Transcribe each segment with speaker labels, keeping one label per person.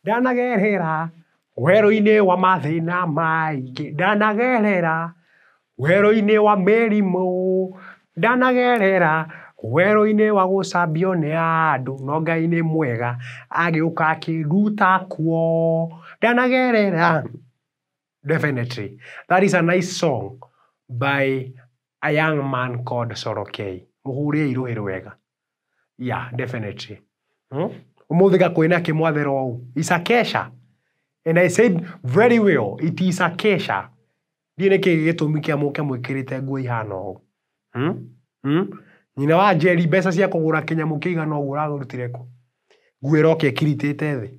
Speaker 1: Ndanagerera werũ-inĩ wa mathĩna maingĩ, ndanagerera werũ-inĩ wa mĩrimũ, ndanagerera werũ-inĩ wa gũcambio nĩ andũ, no Ngai nĩ mwega agĩũka akĩnduta kuo, ndanagerera Definitely. That is a nice song by a young man called Solo K. Mũhũũre airũhĩrũ wega. Yeah, definitely. Hmm? Ũmũthĩ gakwĩna kĩmwathero ũũ. It's a kesha. And I said very well, it is a kesha. Ndiĩ nĩ kĩĩ gĩtũmi kĩa mũke mwĩkĩrĩte nguo ihana ũũ. Hmm? Hmm? Nyina wa Njeri mbeca cia kũgũra kĩnyamũ kĩigana ũguo ũragũrutire kũ? Nguo ĩroka ĩkiritĩte thĩ.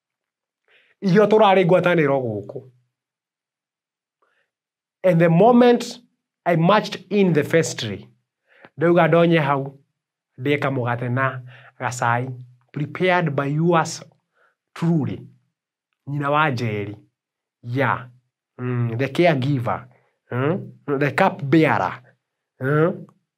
Speaker 1: ithuĩ tũrarĩ ngwatanĩro gũkũ and the moment i marched in the vestry ndauga ndonye hau ndĩe kamũgate na gacai prepared by yours truly nyina wa njeri ya mm, the caregiver mm, the cup bearer mm,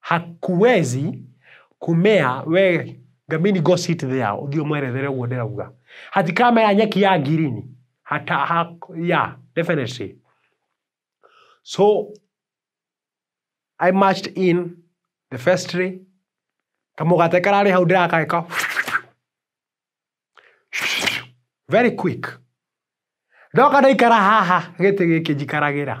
Speaker 1: Hakuwezi kumea we gamini go sit there ũthiĩ ũmwerethere ũguo ndĩrauga hatikamea nyeki ya ngirini hata ha, yeah, definitely so I marched in the vestry kamũgate kararĩ hau ndĩrakageka very quick ndoka ndaikara haha gĩtĩ gĩkĩ njikaragĩra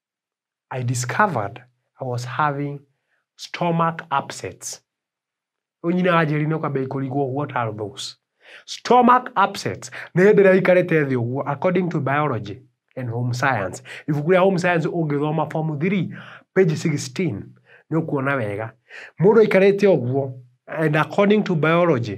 Speaker 1: I discovered I was having stomach upsets. Onyina ajeri no kabe ikoligo what are those? Stomach upsets. Nĩ hĩndĩ ĩrĩa aikarĩte thĩ ũguo according to biology and home science. Ibuku rĩa home science ũngĩthoma form 3 page 16 nĩ ũkuona wega. Mũndũ aikarĩte ũguo and according to biology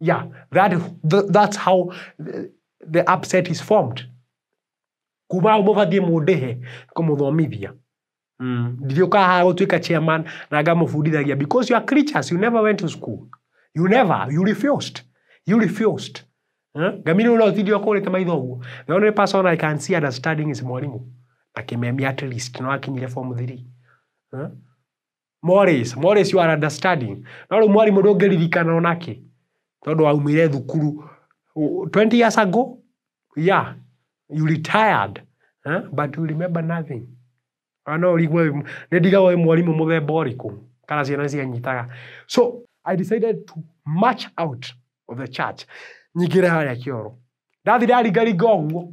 Speaker 1: Yeah, that, th that's how the upset is formed. Kuma hau mũgathiĩ mũndĩhe kũmũthomithia. Mm. Ndiriũka haha gũtuĩka chairman na ngamũbundithagia because you are creatures, you never went to school. You never, you refused. You refused. Eh? Ngamiri ũrĩa ũtindi ũkũrĩte maitho ũguo. The only person I can see understanding is mwarimũ. Akĩmemia at least no akinyire form 3. Eh? Morris, Morris you are understanding. No rĩu mwarimũ ndũngĩririkana ona kĩ tondũ waumire thukuru u- 20 years ago yeah you retired huh? but you remember nothing Ah, no ũrigwo wĩ- nĩ ndigagwo wĩ mwarimũ mũthemba ũrĩkũ kana ciana nĩ cianyitaga so i decided to march out of the church nyingĩre harĩa kĩoro ndathi ndaringaringa ũguo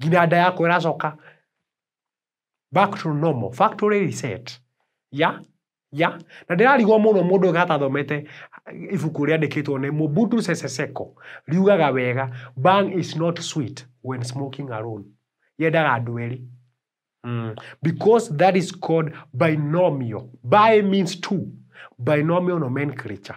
Speaker 1: nginya nda yakwa ĩracoka back to normal, factory reset. Ya, ya, na ndĩrarigwo mũno mũndũ ũyũ atathomete ibuku rĩandĩkĩtwo nĩ Mobutu Sese Seko, riugaga wega, bhang is not sweet when smoking alone. Yendaga andũ erĩ. Mm. Because that is called binomial. Bi means two. Binomial nomenclature.